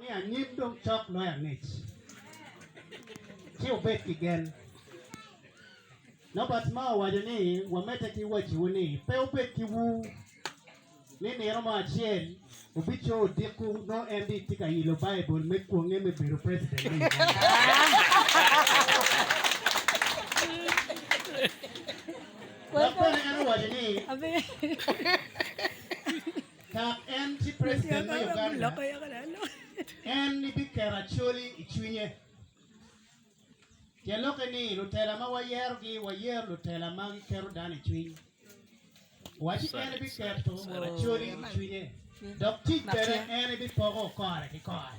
Ni anyim dong cok loyo angec, ci wubed ki gen. Nobert Mao owaco ni, Wamedde ki wacciwu ni pe wubed ki ur ni nino mo acel wubico odiko nongo en rii tye ka ilo Baibul me kwonge me bedo preciden me Uganda. Dok bene en owaco ni, Dok en tye preciden me Uganda, en biketo acoli i cwinye. Tyen lokke ni lutela ma wayerogi wayero lutela ma giketo dano i cwiny. Owaci en biketo acoli i cwinye dok tic bene en bipoko kore ki kore.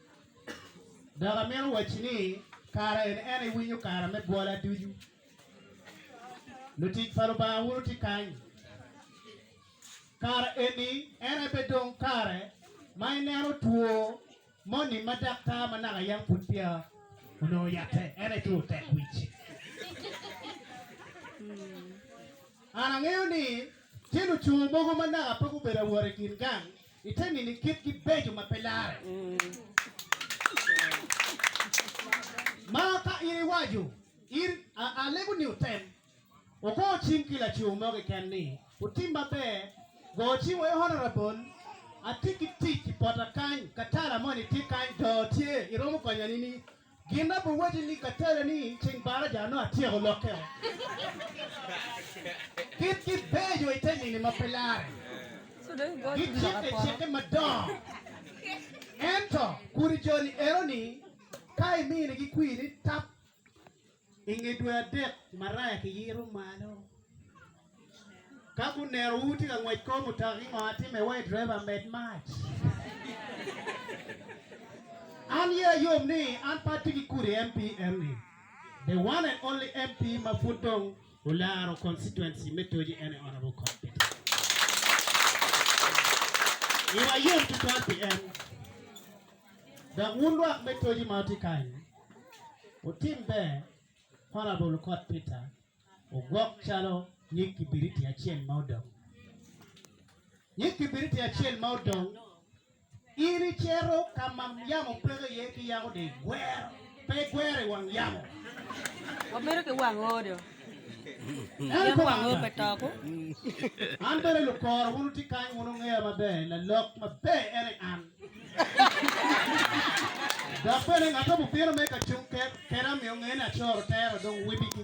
Dok amito wacci ni kara en en iwinyo kara me bwola ducu. Lutic pa Lubanga wun wutye kany. Kara eni en aye bedong kare ma ineno two moni ma daktar ma naka yam pud peya onongo yatte, en aye two tekwic. An angeyo ni tye luco mogo ma naka pe gubedo awot i kin gang, Ite nini kitgi beco ma pe larre. Ma ka in iwaco, in, a, alego ni wutem, wugo cing ki lacowu mo keken ni, Wutim maber, go cing wa i Honorable, atye ki tic i pota kany, katala moni tye kany, doo tye, iromo konya nini? Gin ma biwacci ni ka tele ni ceng baraja nongo atyeko lokke o. Kit gi beco ite nini ma pe lare. Gi cikke cikke madongo. Ento kudi joni eno ni ka imini gi kwiri tap I nge dwe adek maraya kiyito malo ka guneno wu tye ka ngwec kor mutoka ki ngo ma timme wa i driver med mac an ye ayom ni an pe atye ki kudi MP eni the one and only MP ma pud dong olaro constituency me Toji ene honorable Col Peter Nyomo iwa yom tutwal pi en Dok wun lwak me toji ma wutye kany, wutim ber parabol okot Peter ogwok calo nyig kibiriti acel ma odong. Nyig kibiriti acel ma odong, in icito ka ma yamo peke iye ki yako dong igwero, pe igwero i wang yamo. Wabedo ki wang odo. Yam wang odo pe toko. An bene lukora, wun wutye kany, wun wungeya maber, lalok maber ene an. Dok bene ngat mo bino me ka cung keda miyo ngeye ni acoro tera dong wibigi.